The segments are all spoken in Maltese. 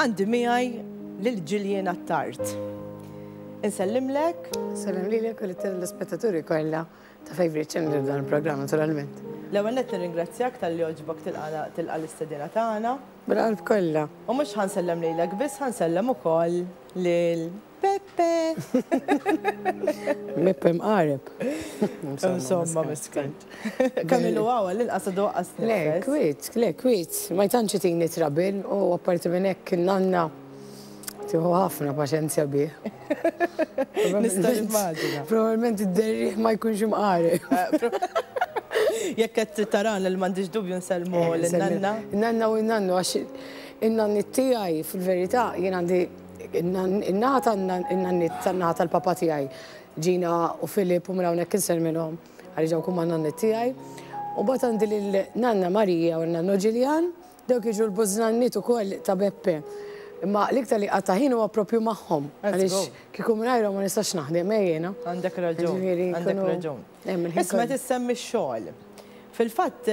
Għandi miegħi lil Gillian Attard. Insellimlek. Salem lilek u l-telespettaturi kollha ta' Favorite Channel f'dan il-programm naturalment. L-ewwel nett nirringrazzjak talli għoġbok tilqana tilqa' l-istedina tagħna. Bil-qalb kollha. U mhux ħa nsellem lilek biss, ħa nsellem ukoll lil Peppe! Peppe mqareb. Insomma, miskin. Kemm ilu hawn għall-inqas għadu waqqas nifes. Le, kwiet, le, kwiet. Ma jtantx itini trabil u apparti minn hekk in-nanna tieħu ħafna paċenzja bih. Nista' nimmaġina. Probabbilment id-derriħ ma jkunx imqareb. Jekk qed tittarana li m'għandix dubju nsellmu lin-nanna. Nanna u n-nannu għax in-nanniet tiegħi fil-verità jien għandi In-naħa tan-nanniet, tan-naħa tal-papa tiegħi, Gina u Philip u minn hawnhekk inser minnhom għaliex dawk huma n-nanniet tiegħi. U mbagħad għandi lil nanna Marija u n-nannu Ġiljan, dawk jiġu l-bużnanniet ukoll ta' Beppe. Imma l-iktar li qatta' ħin huwa proprju magħhom għaliex kieku mingħajrhom ma nistax naħdem, eh jiena? Għandek raġun, għandek raġun. Isma' qed issemmi x-xogħol. Fil-fatt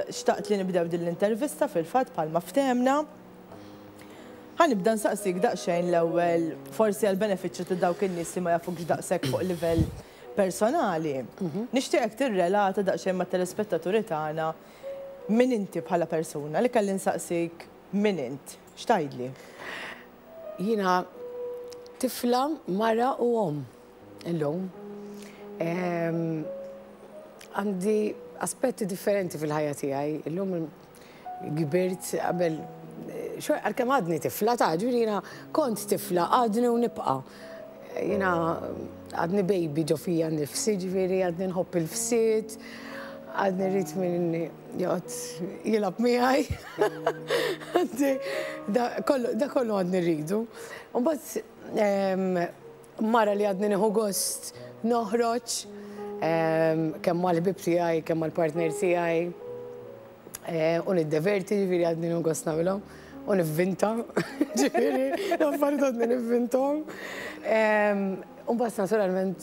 xtaqt li nibdew din l-intervista fil-fatt bħalma ftehemna. Ħa nibda nsaqsik daqsxejn l-ewwel, forsi għall-benefiċċju ta' dawk in-nies li ma jafukx daqshekk fuq livell personali, nixtieqek tirrelata daqsxejn mat-telespettaturi tagħna min inti bħala persuna. Li kelli nsaqsik min int, x'tgħidli? Jiena tifla, mara u omm illum. Għandi aspetti differenti fil-ħajja tiegħi. Illum kbirt qabel xorta għalkemm għadni tifla ta' ġifieri jiena kont tifla għadni u nibqa'. Jiena għadni baby ġo fija nnifsi ġifieri għadni nħobb il-fsied, għadni rrid min joqgħod jilgħab miegħi. Da kollu għadni rridu. U mbagħad Mara li għadni nieħu gost noħroġ kemm mal-ħbieb tiegħi, kemm mal-partner tiegħi u niddeverti, ġifieri għadni nieħu gost nagħmilhom u nivvinta, ġifieri l-affarijiet għadni nivvintom. U mbagħad naturalment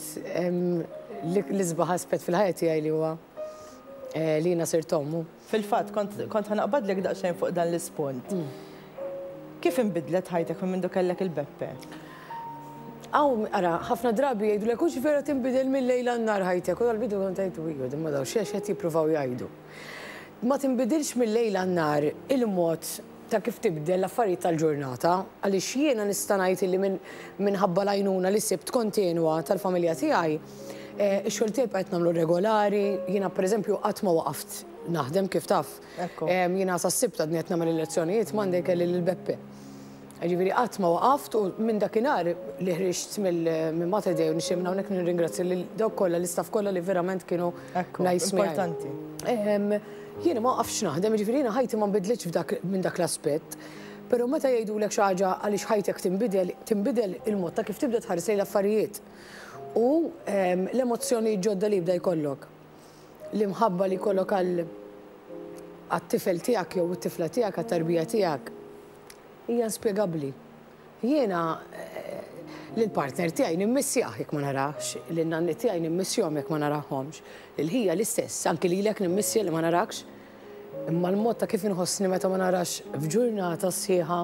l-isbaħ aspett fil-ħajja tiegħi li huwa li jiena sirt ommu. Fil-fatt, kont ħa naqbadlek daqsxejn fuq dan l-ispunt. Kif inbidlet ħajtek minn mindu kellek il-beppe? Hawn, ara, ħafna drabi jgħidulek hux vera tinbidel mil-lejl għan-nhar ħajtek u dal-bidu kont ngħid iju din ma dawn x'għax qed jippruvaw jgħidu. Ma tinbidilx mil-lejl għan-nhar il-mod ta' kif tibdel l-affarijiet tal-ġurnata, għaliex jiena nista' ngħid illi minn minħabba l-għajnuna li sibt kontinwa tal-familja tiegħi, ix-xogħol tiegħi bqajt nagħmlu regolari, jiena pereżempju qatt ma waqaft naħdem kif taf. Jiena sas-Sibt għadni qed nagħmel il-lezzjonijiet, Monday kelli lil Beppe. Jiġifieri qatt ma waqaft u minn dakinhar li ħriġt minn Mater Dei u nixtieq minn hawnhekk nirringrazzja lil dawk kollha, l-istaff kollha li verament kienu nice miegħi. Ekku, importanti. Jiena ma waqaftx naħdem, jiġifieri jiena ħajti ma nbidlitx f'dak minn dak l-aspett. Però meta jgħidulek xi ħaġa għaliex ħajtek tinbidel, tinbidel il-mod ta' kif tibda tħares lejn l-affarijiet. U l-emozzjonijiet ġodda li jibda jkollok. L-imħabba li jkollok għal għat-tifel tiegħek jew it-tifla tiegħek, għat-tarbija tiegħek. Hija inspjegabbli. Jiena lill-partner tiegħi nimmissjah jekk ma narahx, lin-nanni tiegħi nimmissjhom jekk ma narahomx, lil ħija l-istess, anki lilek nimmissja li ma narakx. Imma l-mod ta' kif inħossni meta ma narax f'ġurnata sħiħa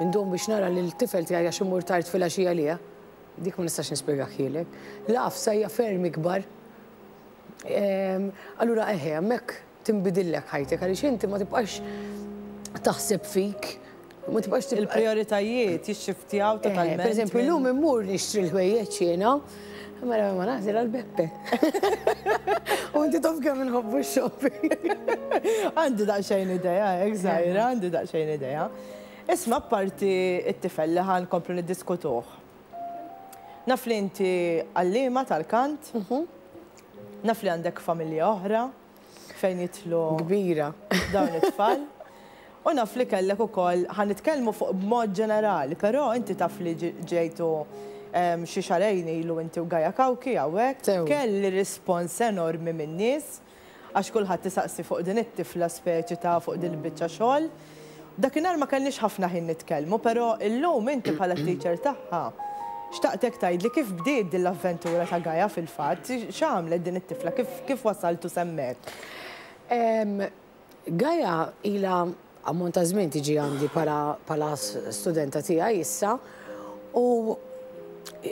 ndum biex nara lill-tifel tiegħi għax immur tard filgħaxija għalih, dik ma nistax nispjegahhielek. L-għafsa hija ferm ikbar. Allura eħe, hemmhekk tinbidillek ħajtek għaliex inti ma tibqax taħseb fik, ma tibqax tibqa'. Il-prijoritajiet jixxiftjaw totalment. Per eżempju, llum immur nixtri l-ħwejjeġ jiena, mela ma nagħżel għal Beppe. U inti taf kemm inħobbu x-shopping. Għandi daqsxejn idea, hekk żgħira, għandi daqsxejn idea. Isma' apparti t-tifel li ħa nkomplu niddiskutuh. Naf li inti għalliema tal-kant, naf li għandek familja oħra. fejn jidħlu kbira dawn it-tfal. U naf li kellek ukoll, ħa nitkellmu fuq b'mod ġenerali, però inti taf li ġejtu xi xahrejn ilu inti u Gaia Cauchi hawnhekk, kelli rispons enormi min-nies għax kulħadd isaqsi fuq din it-tifla speċi ta' fuq din il-biċċa xogħol. Dakinhar ma kellniex ħafna ħin nitkellmu, però illum inti bħala t-teacher tagħha, xtaqtek tgħidli kif bdiet din l-avventura ta' Gaia fil-fatt? X'għamlet din it-tifla? Kif wasalt u semmiet? Gaia ilha ammont ta' żmien tiġi għandi bħala studenta tiegħi issa u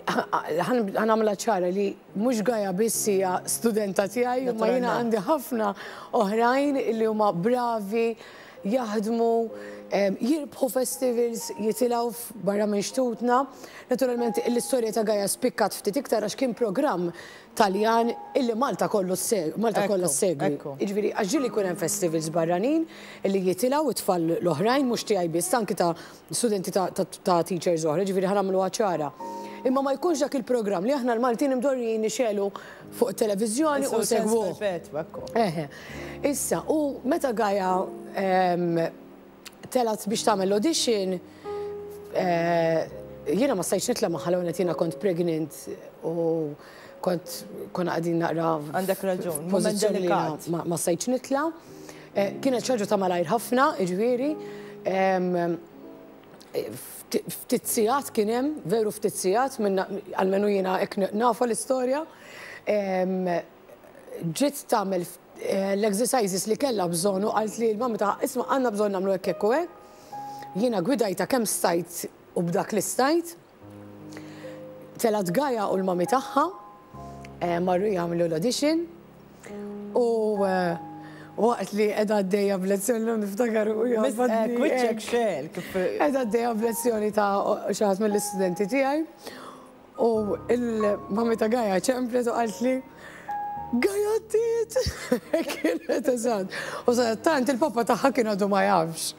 ħa nagħmilha ċara li, Mhux Gaia biss hija studenta tiegħi, imma jiena għandi ħafna oħrajn li huma bravi, jaħdmu, jirbħu festivals, jitilgħu barra minn xtutna. Naturalment l-istorja ta' Gaia spikkat ftit iktar għax kien programm Taljan illi Malta kollu Malta kollha ssegwi. Jiġifieri għax ġieli jkun hemm festivals barranin li jitilgħu t-tfal l-oħrajn mhux tiegħi biss anki ta' studenti ta', ta, ta teachers oħra, ġifieri ħa nagħmluha ċara. Imma ma jkunx dak il-programm li aħna l-Maltin imdorrijin nixelu fuq it-televiżjoni u segwu. Eħe. Issa, u meta Gaja ehm, telat biex tagħmel audition, eh, jiena ma stajtx nitla' magħha l jiena kont pregnant u kont konna qegħdin naqra. Għandek raġun, moment delikat. Ma stajtx nitla'. Kienet xi ħaġa ta' malajr ħafna, jiġifieri ftit sigħat kien hemm, veru ftit sigħat, almenu jiena hekk nafha l-istorja. Ġiet tagħmel l-exercises li kellha bżonn u qalt li l-mamma tagħha, isma' għandna bżonn nagħmlu hekk, hekk u hekk. Jiena gwidajtha kemm stajt u b'dak li stajt. Telgħet Gaia u l-mommy tagħha marru jagħmlu l-audition u waqt li qiegħda għaddejja b'lezzjoni l niftakar u jgħabadni. Kwiċċek xel. Qiegħda għaddejja b'lezzjoni ta' xi ħadd mill-istudenti tiegħi u l-mommy ta' Gaia ċemplet u qaltli Gajattiet! Kienet eżatt. U sa tant il-papa tagħha kien għadu ma jafx.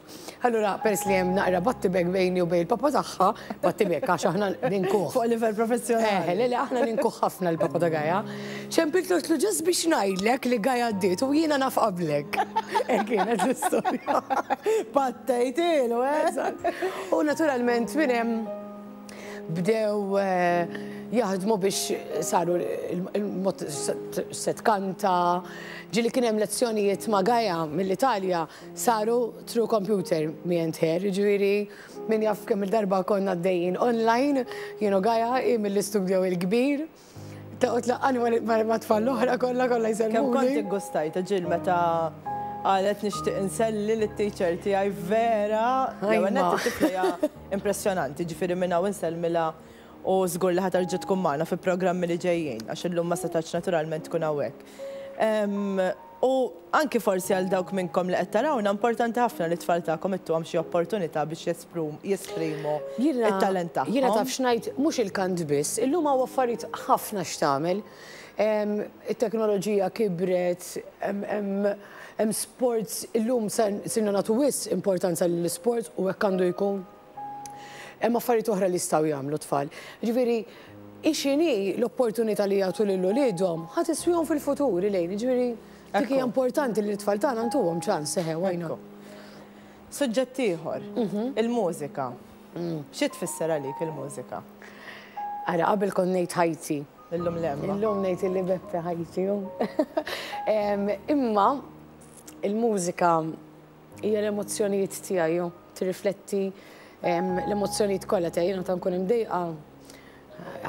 Allura, pers li hemm naqra battibek bejni u bejn il-papa tagħha, battibek għax aħna ninkuħ. Fuq livell professjonali. Eh, le, le, aħna ninkuħ ħafna l-papa ta' Gaja. Ċempilt l ġas biex ngħidlek li Gaja għaddiet u jiena naf qablek. Eh, kienet l-istorja. Pattejtilu, eh? U naturalment minn hemm Bdew jaħdmu biex saru il-mod se tkanta, ġili kien hemm lezzjonijiet ma' Gaja mill-Italja saru through computer me and her, ġifieri min jaf kemm il-darba konna għaddejjin online, jien u Gaja, hi mill-istudjo il-kbir. Ta' u tlaqqani ma' tfal l-oħra kollha kollha jselmuni. Kemm kont iggustajt ġil meta qalet nixtieq inselli lit-teacher tiegħi vera. L-ewwel nett it-tifla hija impressjonanti, ġifieri minn hawn insellmilha u żgur li ħa terġa' tkun magħna fi programmi li ġejjin għax illum ma setgħetx naturalment tkun hawnhekk. U anki forsi għal dawk minnkom li qed tarawna, importanti ħafna li t-tfal tagħkom ittuhom xi opportunità biex jesprimu t-talent tagħhom. Jiena taf x'ngħid, mhux il-kant biss, illum hawn affarijiet ħafna x'tagħmel. It-teknoloġija kibret, hemm sports, illum sirna nagħtu wisq importanza lill-isports u hekk għandu jkun. Hemm affarijiet oħra li jistgħu jagħmlu t-tfal. Jiġifieri, hi x'inhi l-opportunità li jagħtu lil uliedhom ħa tiswihom fil-futur, Elaine. Jiġifieri, dik hija importanti li t-tfal tagħna ntuhom ċans, eħe, why not? Suġġett ieħor, il-mużika. Xi tfisser għalik il-mużika? Ara, qabel kont ngħid ħajti. Illum le, imma. Illum ngħid illi Beppe ħajti hu. Imma, il-mużika. Hija l-emozzjonijiet tiegħi, jew tirrifletti l-emozzjonijiet kollha tiegħi. Jiena ta' nkun imdejqa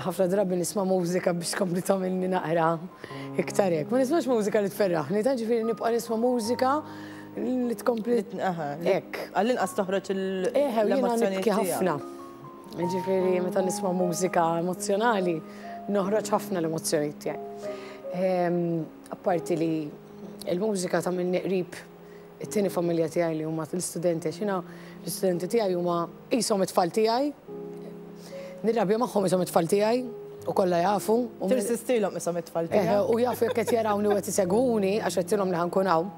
ħafna drabi nisma' mużika biex tkompli tagħmilni naqra iktar hekk. Ma nismax mużika li tferraħni, ta' ġifieri nibqa' nisma' mużika li tkompli hekk. Għall-inqas toħroġ l-emozzjonijiet tiegħi. ħafna. Ġifieri meta nisma' mużika emozzjonali, noħroġ ħafna l-emozzjonijiet tiegħi. Apparti li l-mużika tagħmilni qrib It-tieni familja tiegħi li huma l-istudenti għax jiena l-istudenti tiegħi huma qishom it-tfal tiegħi. Nirrabja magħhom qishom it-tfal tiegħi u kollha jafu. Tirsistilhom qishom it-tfal tiegħi. U jafu jekk qed jarawni u qed isegwuni għax għedtilhom li ħankun hawn.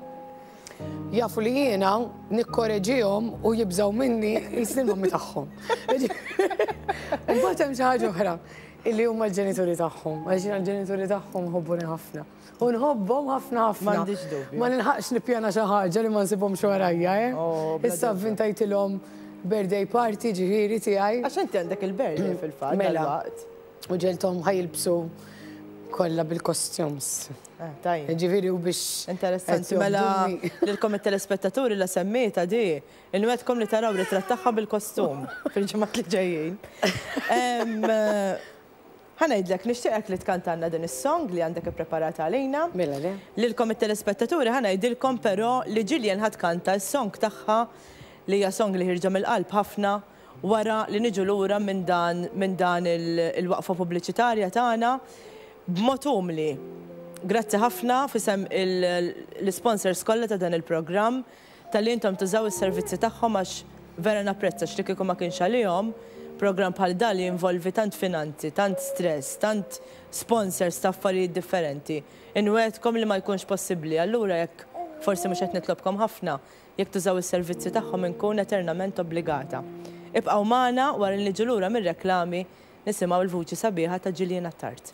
Jafu li jiena nikkoreġihom u jibżgħu minni qisni l-mommi tagħhom. Imbagħad hemm xi ħaġa oħra illi huma l-ġenituri tagħhom għax jiena l-ġenituri tagħhom iħobbuni ħafna. U nħobbhom ħafna ħafna. M'għandix dubju. Ma nilħaqx nippjana xi ħaġa li ma nsibhomx warajja, eh? Oh, bla dubju. Issa vvintajtilhom birthday party ġifieri tiegħi. Għax inti għandek il-birthday fil-fatt Mela. dalwaqt. U ġelthom ħajilbsu kollha bil-costumes. Ah, Tajjeb. Ġifieri u biex. Interessanti, qed mela jobduni. lilkom it-telespettaturi la semmejta di. Inwedkom li taraw ritratt tagħha bil-kostum fil-ġimgħat li ġejjin. Em, Ħa ngħidlek, nixtieqek li tkantalna din is-song li għandek ippreparata għalina. Mela le. Lilkom it-telespettaturi ħa ngħidilkom però li Jillian ħa tkanta s-song tagħha li hija song li ħierġa mill-qalb ħafna wara li niġu lura minn dan minn dan il-waqfa pubbliċitarja tagħna b'mod umli. Grazzi ħafna f'isem il-l-isponsors kollha ta' dan il-programm Talli intom tużaw is-servizzi tagħhom għax vera napprezza x'li kieku ma kienx għalihom, programm bħal dan li jinvolvi tant finanzi, tant stress, tant sponsors ta' affarijiet differenti, inwegħedkom li ma jkunx possibbli. Allura jekk, forsi mhux qed nitlobkom ħafna, jekk tużaw is-servizzi tagħhom inkun eternament obbligata. Ibqgħu magħna, wara li niġu lura mir-reklami, nisimgħu l-vuċi sabiħa ta' Gillian Attard.